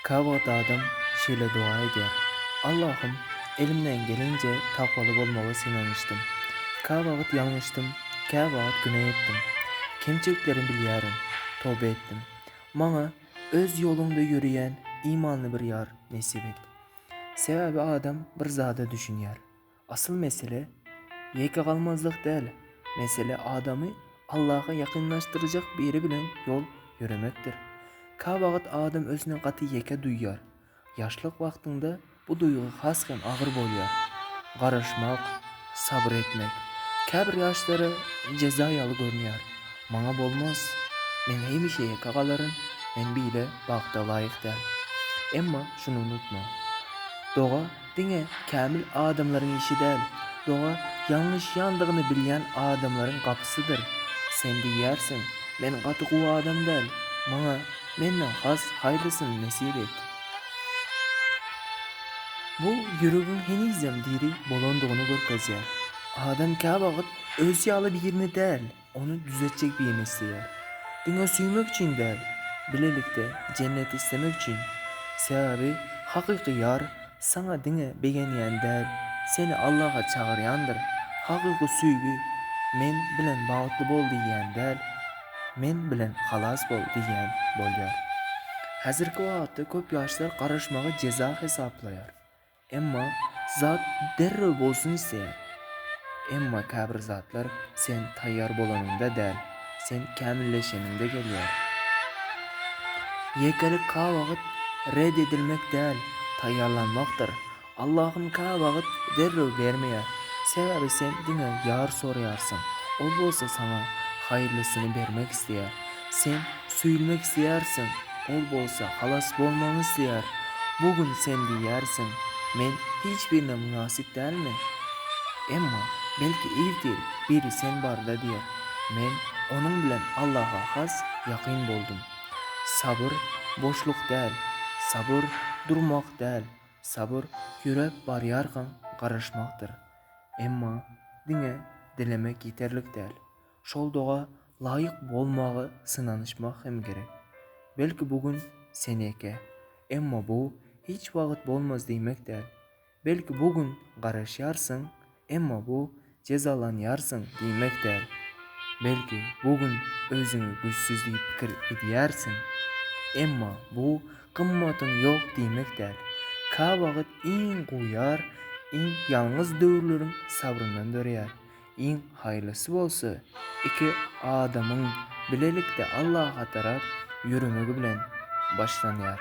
Kä wagt adam şeýle doga edýär, Allahym, elimden gelenje takwaly bolmaga synanyşdym. Kä wagt ýalňyşdym, kä wagt günä etdim. Kemçiliklerimi bilýärin, toba etdim. Maňa Öz ýoluňda ýöreýän imanly bir ýar nesip et. Sebäbi adam bir zada düşünýär. Asyl mesele ýeke galmazlyk däl, mesele adamy Allaha ýakynlaşdyrjak biri bilen ýol ýöremekdir. Käwagt adam özüni gaty ýeke duýýar. Ýaşlyk wagtyňda bu duýgy has hem agyr bolýar. Garaşmak, sabyr etmek käbir ýaşlara jeza ýaly görünýär. Maňa bolmaz. Men hemişe ýeke galaryn, men beýle bagta laýyk däl. Emma şuny unutma. Doga Diňe kämil adamlaryň işi däl, doga ýalňyşýandygyny bilýän adamlaryň gapysydyr. Sen diýýärsiň, Men gaty gowy adam däl, maňa menden has haýyrlysyny nesip et. Bu ýüregiň henizem diri bolandygyny görkezýär. Adam käwagt öz ýaly birini däl, Ony düzetjek birini isleýär. Diňe söýmek üçin däl, bilelikde jenneti islemek üçin. Sebäbi hakyky ýar saňa diňe begenýän däl, seni Allaha çagyrýandyr. Hakyky söýgi men bilen bagtly bol diýýän däl, men bilen halas bol diýýän bolýar. Häzirki wagtda köp ýaşlar garaşmagy jeza hesaplaýar. Emma zat derrew bolsun isleýär. Emma käbir zatlar sen taýýar bolanyňda däl, sen kämilleşeniňde gelýär. Ýekelik käwagt red edilmek däl, taýýarlanmakdyr. Allahym käwagt derrew bermeýär. Sebäbi sen diňe ýar soraýarsyň, ol bolsa saňa haýyrlysyny bermek isleýär. Sen söýülmek isleýärsiň, ol bolsa halas bolmagyňy isleýär. Bu gün sen diýýärsiň, Men hiç birine mynasyp dälmi? Emma, belki irtir biri sen barada diýer, Men onuň bilen Allaha has ýakyn boldum. Sabyr, boşluk däl. Sabyr, durmak däl. Sabyr, ýöräp barýarkaň garaşmakdyr. Emma, diňe dilemek ýeterlik däl. Şol doga laýyk bolmaga synanyşmak hem gerek. Belki bu gün seneke, emma bu hiç wagt bolmaz diýmek däl. Belki bu gün garaşýarsyň, emma bu jezalanýarsyň diýmek däl. Belki bu gün özüňi güýçsüz diýip pikir edýärsiň, emma bu gymmatyň ýok diýmek däl. Käwagt iň gowy ýar iň ýalňyz döwürleriň sabryndan döreýär. Iň haýrlysy bolsa iki adamyň bilelikde Allaha tarap ýöremegi bilen başlanýar.